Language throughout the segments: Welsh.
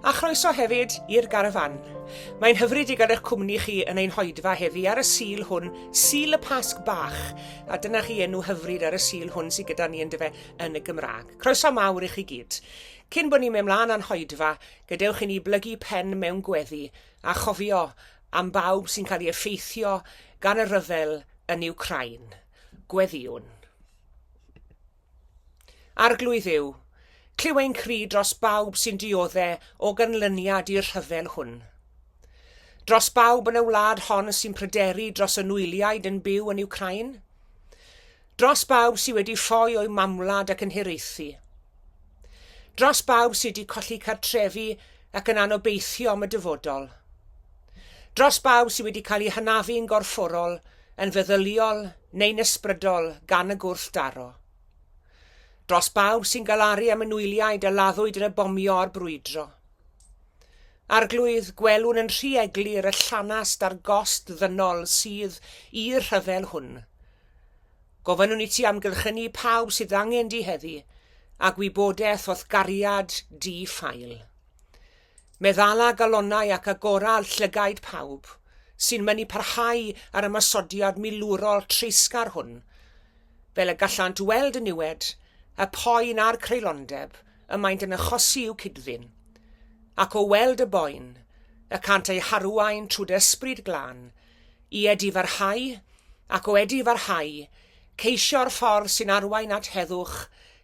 A chroeso hefyd i'r garafan. Mae'n hyfryd i gael eich cwmni chi yn ein hoedfa heddi ar y Sul hwn, Sul y Pasg Bach, a dyna chi enw hyfryd ar y Sul hwn sydd gyda ni yn dyfe yn y Gymraeg. Croeso mawr i chi gyd. Cyn bod ni'n mynd mlaen â'n hoedfa, gadewch i ni blygu pen mewn gweddi a chofio am bawb sy'n cael ei effeithio gan y rhyfel yn Ukraine. Gweddïwn. Arglwydd Dduw, clyw ein cri dros bawb sy'n diodde o ganlyniad i'r rhyfel hwn. Dros bawb yn y wlad hon sy'n pryderu dros y nwyliaid yn byw yn Ukraine. Dros bawb sydd wedi ffoi o'i mamwlad ac yn hiraethu. Dros bawb sydd wedi colli cartrefi ac yn anobeithio am y dyfodol. Dros bawb sydd wedi cael eu hanafu'n gorfforol yn feddyliol neu'n ysbrydol gan y gwrthdaro. Dros bawb sy'n galaru am y nwyliaid a laddwyd yn y bomio a'r brwydro. Arglwydd, gwelwn yn rhy eglur y llanast a'r gost ddynol sydd i'r rhyfel hwn. Gofynnwn i ti amgylchynu pawb sydd angen di heddi, a gwybodaeth o'th gariad di ffael. Meddyla galonnau ac agorau llygaid pawb sy'n mynnu parhau â'r ymosodiad milwrol treisgar hwn, fel y gallant weld y niwed, y poen a'r creulondeb y maent yn achosi i'w cyd-ddyn, ac o weld y boen y cânt eu harwain trwy d'Ysbryd Glân, i edifarhau, ac o edifarhau, ceisio'r ffordd sy'n arwain at heddwch,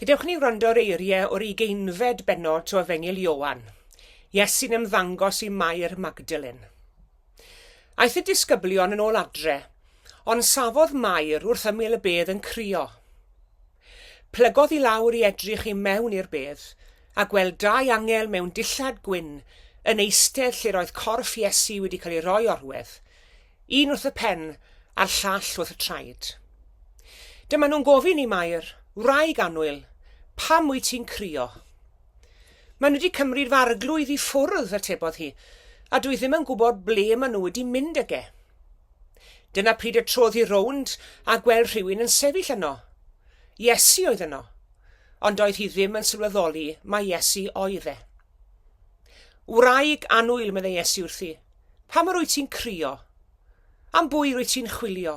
Gadewch ni wrando ar eiriau o'r ugeinfed bennod o Efengyl Ioan. Iesu'n ymddangos i Mair Magdalen. Aeth y disgyblion yn ôl adre, ond safodd Mair wrth ymyl y bedd yn crio. Plygodd i lawr i edrych i mewn i'r bedd, a gweld dau angel mewn dillad gwyn yn eistedd lle'r oedd corff Iesu wedi cael ei roi orwedd, Un wrth y pen a'r llall wrth y traed. Dyma nhw'n gofyn i Mair, wraig annwyl, pam wyt ti'n crio? Mae nhw wedi cymryd fy arglwydd i ffwrdd, atebodd hi, a dwi ddim yn gwybod ble mae nhw wedi mynd ag e. Dyna pryd y trodd hi rownd a gweld rhywun yn sefyll yno. Iesu oedd yno, ond doedd hi ddim yn sylweddoli mai Iesu oedd e. Wraig annwyl, meddai Iesu wrthi, Pam yr wyt ti'n crio? Am bwy rwyt ti'n chwilio?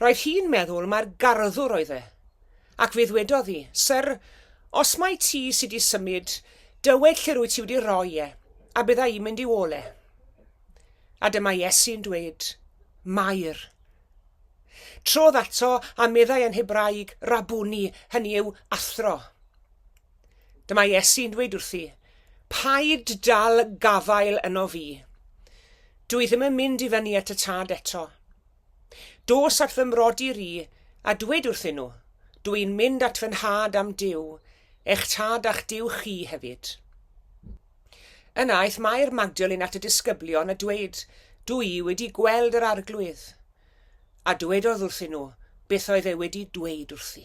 Roedd hi'n meddwl mai'r garddwr oedd e, ac fe ddwedodd hi, Syr, os mai ti sy 'di symud, dywed lle rwyt ti wedi roi e, a bydda i'n mynd i'w ôl e. A dyma Iesu'n dweud, Mair. Trodd ato a meddai yn Hebraeg, Rabuni, hynny yw, athro. Dyma Iesu'n dweud wrthi, Paid dal gafael yno fi. Dw i ddim yn mynd i fyny at y tad eto. Dos at fy mrodyr i, a dweud wrthyn nhw, Dw i'n mynd at fy nhad am Duw, eich tad a'ch Duw chi hefyd. Yna aeth Mair Magdalene at y disgyblion a dweud, Dw i wedi gweld yr Arglwydd. A dwedodd wrthyn nhw beth oedd e wedi dweud wrthi.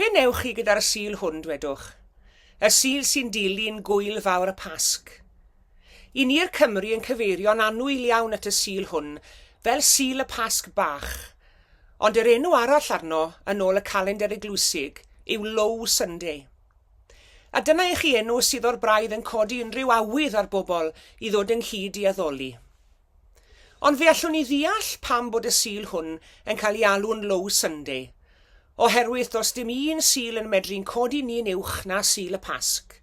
Be wnewch chi gyda'r Sul hwn, dwedwch? Y Sul sy'n dilyn Gŵyl Fawr y Pasg. I ni i'r Cymry yn cyfeirio'n annwyl iawn at y Sul hwn fel Sul y Pasg Bach, ond yr enw arall arno yn ôl y calendr eglwysig yw Low Sunday. A dyna i chi enw sydd o'r braidd yn codi unrhyw awydd ar bobl i ddod ynghyd i addoli. Ond fe allwn ni ddeall pam bod y Sul hwn yn cael ei alw'n Low Sunday, oherwydd does dim un Sul yn medru'n codi ni'n uwch na Sul y Pasg.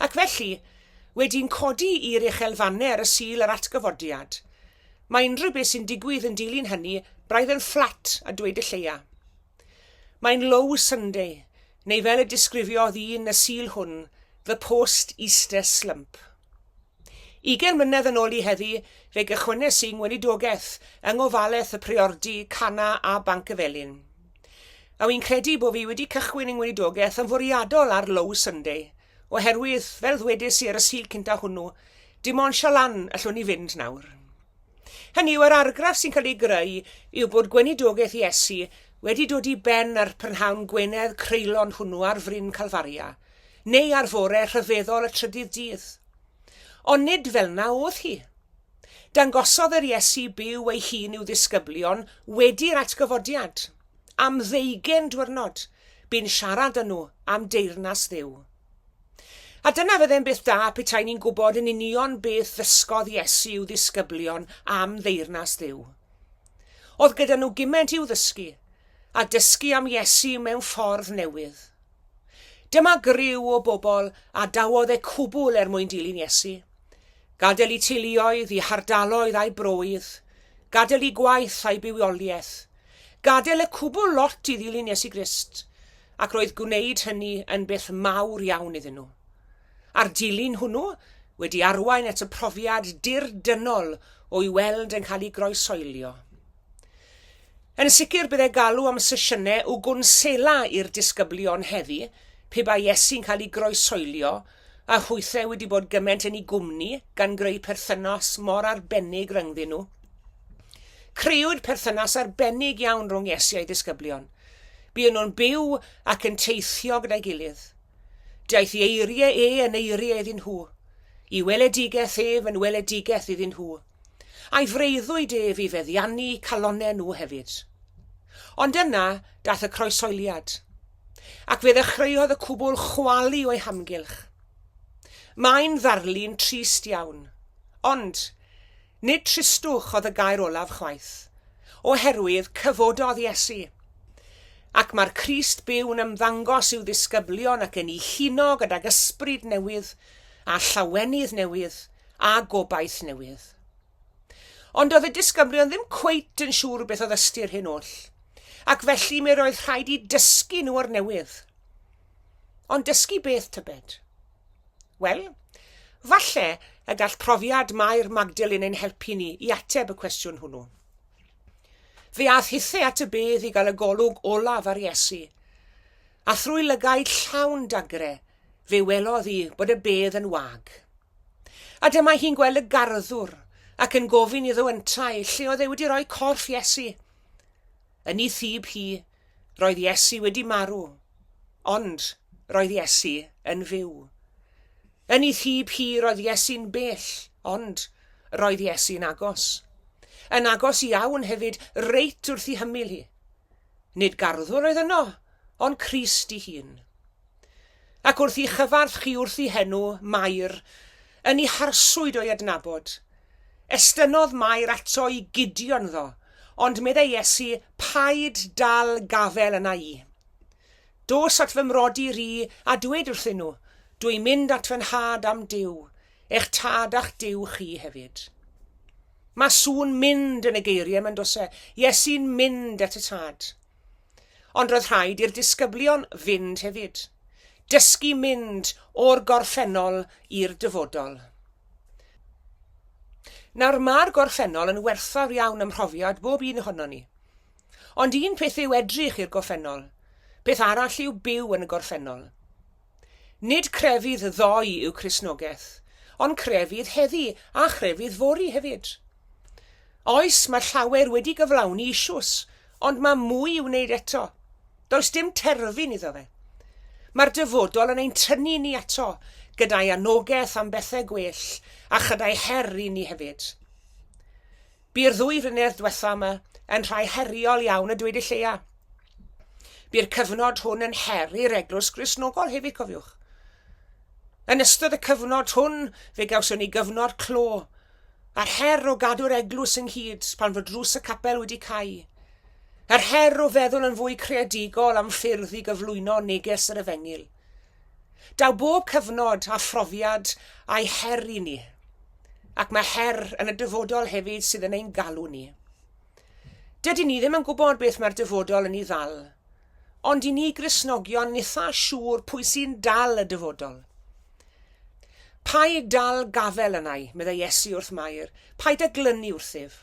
Ac felly, wedi'n codi i'r uchel faner y Sul yr Atgyfodiad, mae unrhyw beth sy'n digwydd yn dilyn hynny braidd yn fflat a dweud y lleia. Mae'n Low Sunday, neu fel y disgrifiodd un y Sul hwn, the post Easter slump. Ugain mlynedd yn ôl i heddi, fe gychwynnes i ngweinidogaeth yng ngofalaeth y Priordy, Cana a Banc y Felin. A wi'n credu bo fi wedi cychwyn yng ngweinidogaeth yn fwriadol ar Low Sunday, Oherwydd, fel ddwedais i ar y sul cyntaf hwnnw, dim ond Sialan allwn ni fynd nawr. Hynny yw, yr argraff sy'n cael ei greu yw bod gweinidogaeth Iesu wedi dod i ben ar prynhawn Gwenedd creulon hwnnw ar fryn Calfaria, neu ar fore rhyfeddol y trydydd dydd. Ond nid fel na oedd hi. Dangosodd yr Iesu byw ei hun i'w ddisgyblion wedi'r atgyfodiad. Am ddeugen diwrnod, bu'n siarad â nhw am deyrnas Dduw. A dyna fyddai'n beth da petai ni'n gwybod yn union beth ddysgodd Iesu i'w ddisgyblion am ddeyrnas Dduw. Oedd gyda nhw gymaint i'w ddysgu, a dysgu am Iesu mewn ffordd newydd. Dyma griw o bobl a dawodd e cwbl er mwyn dilyn Iesu. Gadael i teuluoedd, i hardaloedd a'i broydd. Gadael i gwaith a'i bywioliaeth. Gadael e cwbl lot i ddilyn Iesu Grist. Ac roedd gwneud hynny yn beth mawr iawn iddyn nhw. A'r dilyn hwnnw wedi arwain at y profiad dirdynnol o'i weld e'n cael ei groesoelio. Yn sicr byddai galw am sesiynau o gwnsela i'r disgyblion heddi pe bai Iesu'n cael ei groesoelio a hwythau wedi bod gymaint yn ei gwmni gan greu perthynas mor arbennig rhyngddyn nhw. Crëwyd perthynas arbennig iawn rhwng Iesu a'i ddisgyblion. Buon nhw'n byw ac yn teithio gyda'i gilydd. Daeth i eiriau e yn eiriau iddyn nhw, i weledigaeth ef yn weledigaeth iddyn nhw. A'i freuddwyd ef i feddiannu calonnau nhw hefyd. Ond yna daeth y croeshoeliad, ac fe ddechreuodd y cwbl chwalu o'i hamgylch. Mae'n ddarlun trist iawn, ond nid tristwch oedd y gair olaf chwaith, oherwydd cyfododd Iesu. Ac mae'r Crist byw yn ymddangos i'w ddisgyblion ac yn eu huno gydag ysbryd newydd a llawenydd newydd, a gobaith newydd. Ond oedd y disgyblion ddim cweit yn siŵr beth oedd ystyr hyn oll, ac felly mi roedd rhaid i dysgu nhw o'r newydd. Ond dysgu beth tybed? Wel, falle y gall profiad Mair Magdalene ein helpu ni i ateb y cwestiwn hwnnw. Fe ath hithe at y bedd i gael y golwg olaf ar Iesu, a thrwy lygaid llawn dagre, Fe welodd hi bod y bedd yn wag. A dyma hi'n gweld y garddwr ac yn gofyn iddo yntau lle oedd e wedi rhoi corff Iesu. Yn ei thub hi, roedd Iesu wedi marw, ond roedd Iesu yn fyw. Yn ei thub hi, roedd Iesu'n bell, ond roedd Iesu'n agos. Yn agos iawn hefyd, reit wrth i hymyl hi. Nid garddwr oedd yno, ond Christ i hun. Ac wrth i chyfarth chi wrth i henw Mair yn i harswyd o'i adnabod, estynnodd Mair ato i gydio ynddo, ond meddai Iesu, Paid dal gafel yna i. Dos at fy mrodi ri a dwed wrthyn nhw, Dwi mynd at fy nhad a'm Duw, eich tad a'ch Duw chi hefyd. Mae sŵn mynd yn y geiriau yma, yn dos e? Iesu'n mynd at y tad. Ond roedd rhaid i'r disgyblion fynd hefyd, dysgu mynd o'r gorffennol i'r dyfodol. Nawr, mae'r gorffennol yn werthfawr iawn ym mhrofiad bob un ohonon ni. Ond un peth yw edrych i'r gorffennol, peth arall yw byw yn y gorffennol. Nid crefydd ddoe yw Cristnogaeth, ond crefydd heddi a chrefydd fory hefyd. Oes, mae llawer wedi gyflawni ishws, ond mae mwy i'w wneud eto. Does dim terfyn iddo fe. Mae'r dyfodol yn ein tynnu ni ato, gyda'i anogaeth am bethau gwell, a chydai her i ni hefyd. Bu'r ddwy flynedd dwetha yma yn rhai heriol iawn a dweud y lleia. Bu'r cyfnod hwn yn her i'r eglwys grisnogol hefyd, cofiwch. Yn ystod y cyfnod hwn, fe gawson ni gyfnod clo, a'r her o gadw'r eglwys ynghyd pan fod drws y capel wedi cau. Yr her o feddwl yn fwy creadigol am ffyrdd i gyflwyno neges yr efengyl. Daw bob cyfnod a phrofiad â'i her i ni, ac mae her yn y dyfodol hefyd sydd yn ein galw ni. Dydyn ni ddim yn gwybod beth mae'r dyfodol yn ei ddal, ond i ni Gristnogion nitha siŵr pwy sy'n dal y dyfodol. Paid dal gafel yna i, meddai Iesu wrth Mair, paid â glynu wrthyf.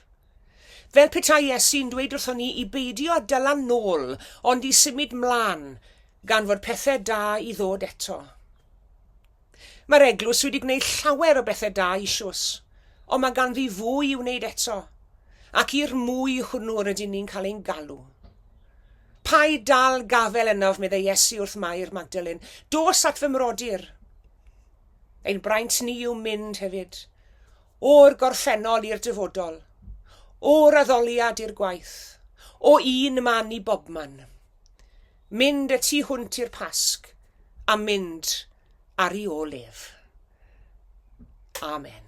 Fel petai Iesu'n dweud wrthon ni i beidio â dala nôl, ond i symud 'mlaen, gan fod pethau da i ddod eto. Mae'r eglwys wedi gwneud llawer o bethau da eisioes, ond mae ganddi fwy i wneud eto, ac i'r mwy hwnnw rydyn ni'n cael ein galw. Paid dal gafel ynof, meddai Iesu wrth Mair Magdalyn. Dos at fy mrodyr. Ein braint ni yw mynd hefyd. O'r gorffennol i'r dyfodol. O'r addoliad i'r gwaith. O un man i bobman. Mynd y tu hwnt i'r Pasg, a mynd ar i ôl ef. Amen.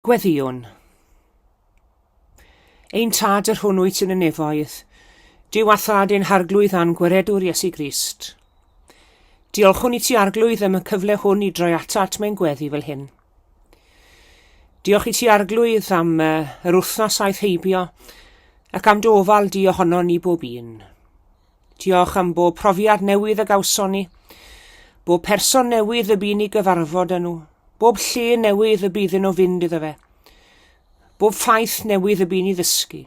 Gweddïwn. Ein tad yr hwn wyt yn y nefoedd, Dyw a thad ein harglwydd a'n gweredwr Iesu Grist. Diolchwn i ti arglwydd am y cyfle hwn i droi ata at mae'n gweddi fel hyn. Diolch i ti arglwydd am uh, yr wythnos aeth heibio ac am dy ofal di ohono ni bob un. Diolch am bob profiad newydd y gawson ni, bob person newydd y bu ni gyfarfod â nhw, bob lle newydd y byddyn nhw fynd iddo fe, bob ffaith newydd y bu ni ddysgu.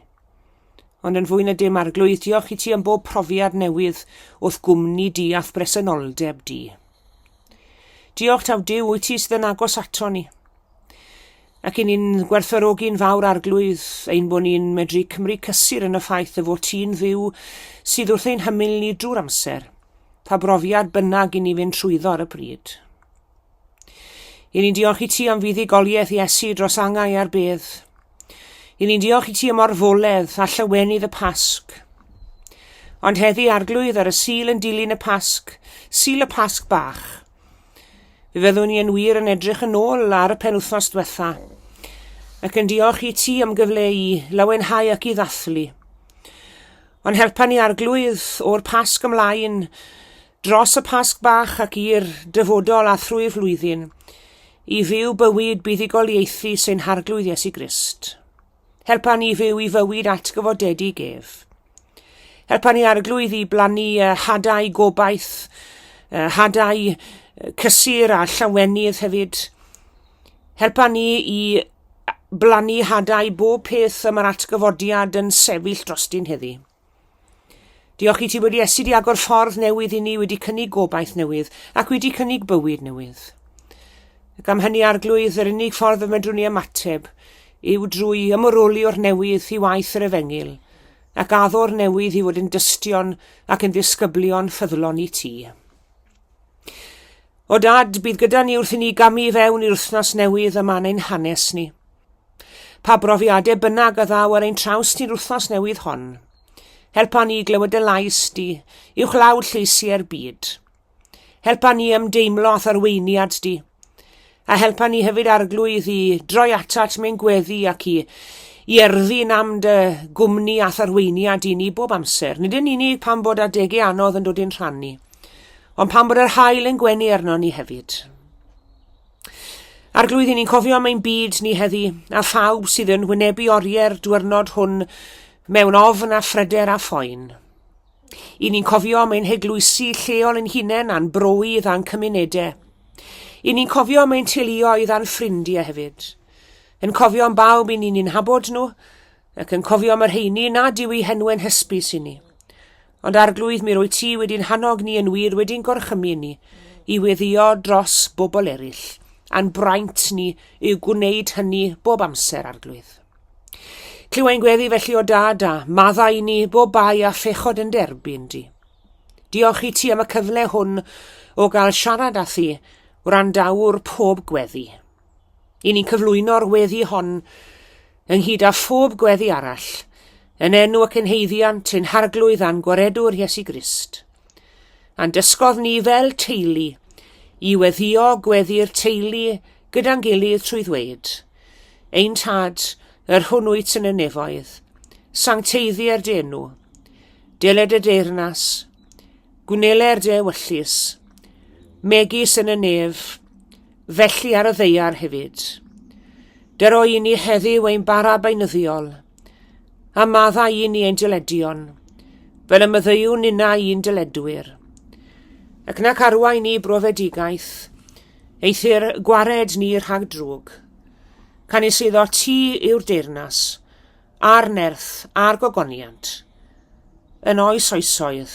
Ond yn fwy na dim arglwydd, diolch i ti am bob profiad newydd o'th gwmni di a'th bresenoldeb di. Diolch taw Duw wyt ti sydd yn agos ato ni. Ac i ni'n gwerthfawrogi'n fawr arglwydd ein bod ni'n medru Cymru cysur yn y ffaith y fod ti'n ddiw sydd wrth ein hymyl ni drwy'r amser, pa brofiad bynnag i ni fynd trwyddo ar y pryd. I ni'n diolch i ti am fuddugoliaeth Iesu dros angau a'r bedd, I ni'n diolch i ti am orfoledd a llawenydd y Pasg. Ond heddi arglwydd ar y sil yn dilyn y Pasg, sil y Pasg bach. Fe fyddwn ni yn wir yn edrych yn ôl ar y penwythnos diwetha ac yn diolch i ti am gyfle i lawenhau ac i ddathlu. Ond helpa ni arglwydd o'r Pasg ymlaen dros y Pasg bach ac i'r dyfodol a thrwy flwyddyn I fyw bywyd buddugoliaethu sy'n harglwydd Iesu Grist. Helpa ni fyw i fywyd atgyfodedig ef. Helpa ni arglwydd i blannu uh, hadau gobaith, uh, hadau uh, cysur a llawenydd hefyd. Helpa ni i blannu hadau bob peth y mae'r atgyfodiad yn sefyll drosti'n heddi. Diolch i ti wedi Iesu di agor ffordd newydd i ni, wedi cynnig gobaith newydd ac wedi cynnig bywyd newydd. Ac am hynny arglwydd, yr unig ffordd y medrwn ni ymateb yw drwy ymwroli o'r newydd i waith yr efengyl ac addo'r newydd i fod yn dystion ac yn ddisgyblion ffyddlon i ti. O dad, bydd gyda ni wrth i ni gamu i fewn i'r wythnos newydd yma yn ein hanes ni. Pa brofiadau bynnag a ddaw ar ein traws ni'r wythnos newydd hon, helpa ni i glywed dy lais di, i'w chlawd lleisiau'r byd. Helpa ni ymdeimlo â tharweiniad di, a helpa ni hefyd arglwydd i droi atat mewn gweddi ac i i erfyn am dy gwmni a tharweiniad i ni bob amser, nid yn unig pan bod adegau anodd yn dod i'n rhannu, ond pan bod yr hael yn gwenu arno ni hefyd. Arglwydd, i ni'n cofio am ein byd ni heddi, a phawb sydd yn hwynebu orie'r diwrnod hwn mewn ofn a phryder a phoen. I ni'n cofio am ein heglwysi lleol yn hunain a'n broydd a'n cymunedau. I ni'n cofio am ein teuluoedd a'n ffrindiau hefyd. Yn cofio am bawb i ni'n unhabod nhw, ac yn cofio am yr heini nad yw eu henwau'n hysbys i ni. Ond Arglwydd, mi rwyt ti wedi'n hannog ni yn wir, wedi'n gorchymyn ni, i weddio dros bobl eraill, a'n braint ni yw gwneud hynny bob amser, Arglwydd. Clywa i'n gweddi felly o da da, maddau i ni bob bai a phechod yn derbyn di. Diolch i ti am y cyfle hwn o gael siarad â thi, wrandawr pob gweddi. I ni'n cyflwyno'r weddi hon, ynghyd â phob gweddi arall, yn enw ac yn heiddiant yn harglwydd a'n gwaredwr Iesu Grist. A'n dysgodd ni fel teulu i weddio gweddi'r teulu gyda'n gilydd trwy ddweud, Ein tad, yr hwn wyt yn y nefoedd, sancteiddier dy enw, deled y deyrnas, gwneler dy ewyllus, megis yn y nef, Felly ar y ddeiar hefyd. Der o i ni heddiw ein bara beinyddiol, a maddau i ni ein dyledion, fel y myddeiwn inna i'n dyledwyr. Ac nac arwain ni brofedigaeth, eithr gwared ni rhag drwg. Canys iddo ti yw'r deyrnas, a'r nerth, a'r gogoniant, yn oes oesoedd.